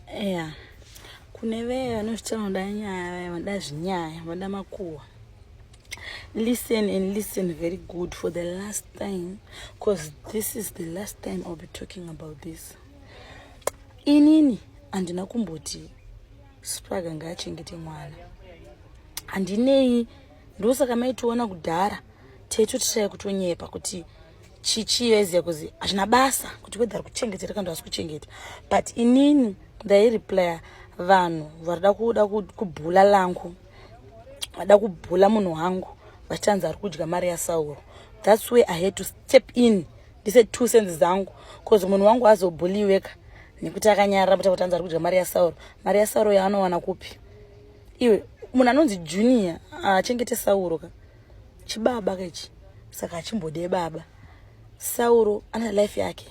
eya kune vee vanozviti vanoda nyaya vanoda zvinyaya vanoda makuhwa listen and listen very good for the last time because this is the last time i'll be talking about this inini handina kumboti spraga ngaachengete mwana handinei ndosaka maitiona kudhara taitotishaya kutonyepa kuti chichiyo iziya kuzi hazvina basa kuti whether ari kuchengetera kana asi kuchengeta but inini ndaireplya vanhu varida kuda kubhula langu vada kubhula munhu wangu vachitanzi ari kudya mari yasauro thats way i had to step in ndise two sense dzangu bcause munhu wangu azobhuliweka nekuti akanyarara kuti akutanzi ari kudya mari yasauro mari yasauro yaanowana kupi iwe munhu anonzi junior achengete sauro ka chibaba kechi saka achimbode baba sauro ana life yake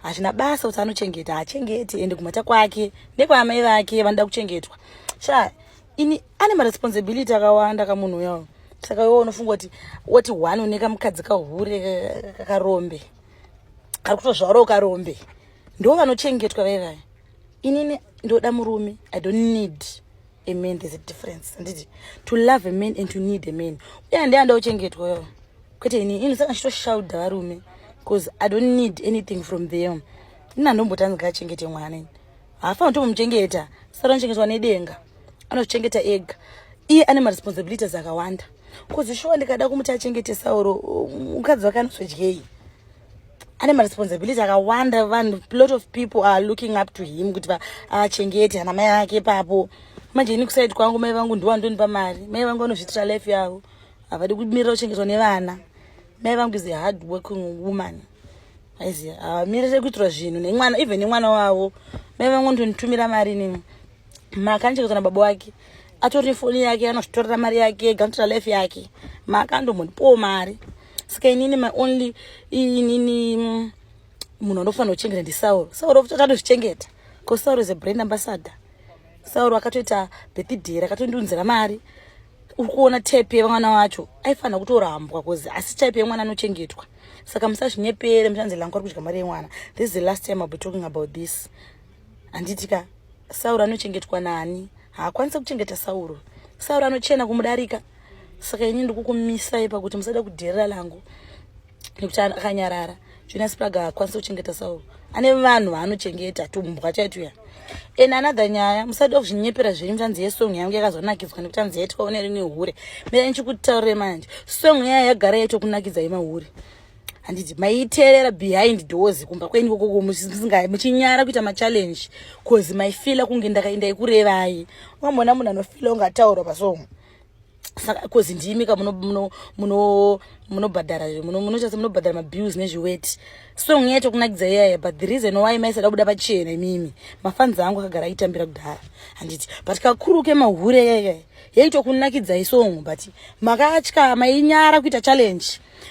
hazvina basa kuti anochengeta haachengeti ende kumhata kwake nekwaamai vake vanoda kuchengetwa sha ini ane maresponsibility akawanda kamunhu uyawo saka iwo unofunga kuti woti one une kamukadzi kahure kakarombe kari kutozvaurawo karombe ndo vanochengetwa vaivaya inini ndoda murume i don't need a man there's a difference handiti to love a man and to need a man uye handiya ndauchengetwa yo kwete ini ini saka chitoshauda varume bcause i don't need anything from them ini handombotanga kachengete mwana ini haafanira tomuchengeta sara anochengetwa nedenga anozvichengeta ega iye ane maresponsibilities akawanda bcause shuwa ndikada kumuti achengetesauro mukadzi wake anozodyei ane maresponsibility akawanda vanhu lot of people are looking up to him kuti achengete ana mai ake papo manje ini kusaidi kwangu mai vangu ndiwo andonipa mari mai vangu vanozviitira life yavo havadi kumirira kuchengetwa nevana mai vangu is a hard working woman aiziva havamirire kuitirwa zvinhu nemwana even nemwana wavo mai vangu ndonitumira mari inini maakandicheka kana baba wake atori nefoni yake anozvitorera mari yake ega anotora life yake maakandomhonipowo mari saka inini my only inini mm, munhu anofanira kuchengeta ndisauro sauro akatozvichengeta bcause sauro is a brand ambassador sauro akatoita birthday rakatondiunzira mari uri kuona tape yemwana wacho aifanira kutorambwa bcause asi type yemwana anochengetwa saka musazvinyepere muchanzi langu ari kudya mari yemwana this is the last time ill be talking about this handiti ka sauro anochengetwa naani haakwanise kuchengeta sauro sauro anochena kumudarika saka ini ndikukumisai pakuti musada kudherera langu nekuti akanyarara jonas praga haakwanise kuchengeta sauro ane vanhu vaanochengeta tumbwa chaituya and another nyaya musada kuzvinyepera zvenyu tanzi yesong yangu yakazonakidza nekuti anzi yaitwawo nerimwe hure mira nichikutaurire manje song yaya yagara yaitokunakidzai mahure handiti maiterera behind doors kumba kweni kokoko musingayi muchinyara kuita machallenge bcause maifila kunge ndakaenda ikurevai wamona munhu anofila unge ataurwa pasomo saka bcause ndimi ka munobhadhara munochasa munobhadhara mabills nezviweti song yaito kunakidza iyaya but the reason why maisada kubuda pachena imimi mafanzi angu akagara aitambira kudhara handiti but kakuru kemahure yaiya yaitokunakidzai song but makatya mainyara kuita challenge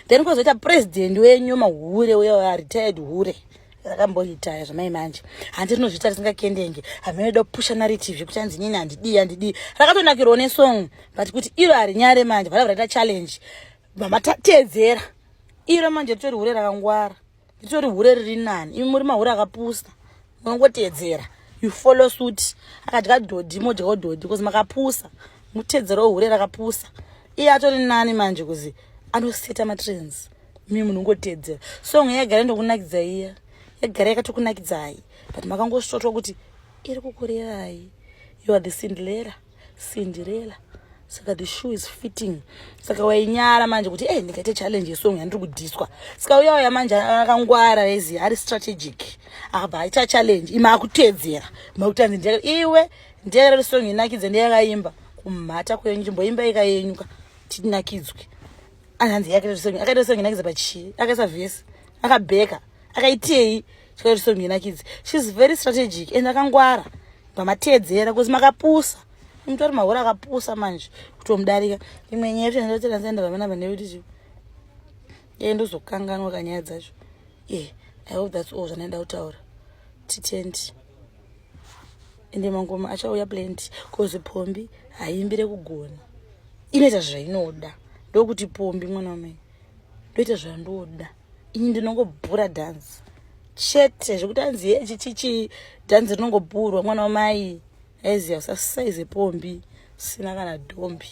then kozoita president wenyu mahure uyo retired hure rakamboita zvamai manje handi rinozviita risingakendenge hamenoda kupusha narrative yekuti hanzi nyini handidii handidii rakatonakirwa nesong but kuti iro harinyare manje vada varaita challenge mama tatedzera iro manje ritori hure rakangwara ritori hure riri nani imi muri mahure akapusa munongoteedzera you follow suit akadya dhodhi modyawo dhodhi bcause makapusa muteedzerawo hure rakapusa iye atori nani manje kuzi anoseta matrans mi munhu ungoteedzera song yagara ndokunakidza iya yagara yakatokunakidzai but makangosvotwa kuti iri kukurerai you are the sindlera Cinderella saka the shoe is fitting saka wainyara manje kuti e ndikaite challenge yesong yandiri kudhiswa saka uya uya manje akangwara ezi ari strategic akabva aita challenge ima akuteedzera makutanzi ndee iwe ndeereri song inakidze ndeyakaimba kumhata kwenyu chimboimba ika yenyuka tinakidzwe anhanzi yake akaita song inakidze pachii akaisa vhesi akabheka akaitei chikaita song ina kids she's very strategic and akangwara pamateedzera because makapusa mtu ari mahora akapusa manje kutomudarika imwe nyaya yacho yandatendaenda vamena vaneuti yee ndozokanganwa kanyaya dzacho e i hope thats all zvanaida kutaura titendi ende mangoma achauya plenty bcause pombi haimbire kugona inoita zvainoda ndokuti pombi mwana wamai ndoita zvandoda ini ndinongobhura dhanzi chete zvekuti anzi hechi chichi dhanzi rinongobhurwa mwana wamai aiziva usasaize pombi sina kana dhombi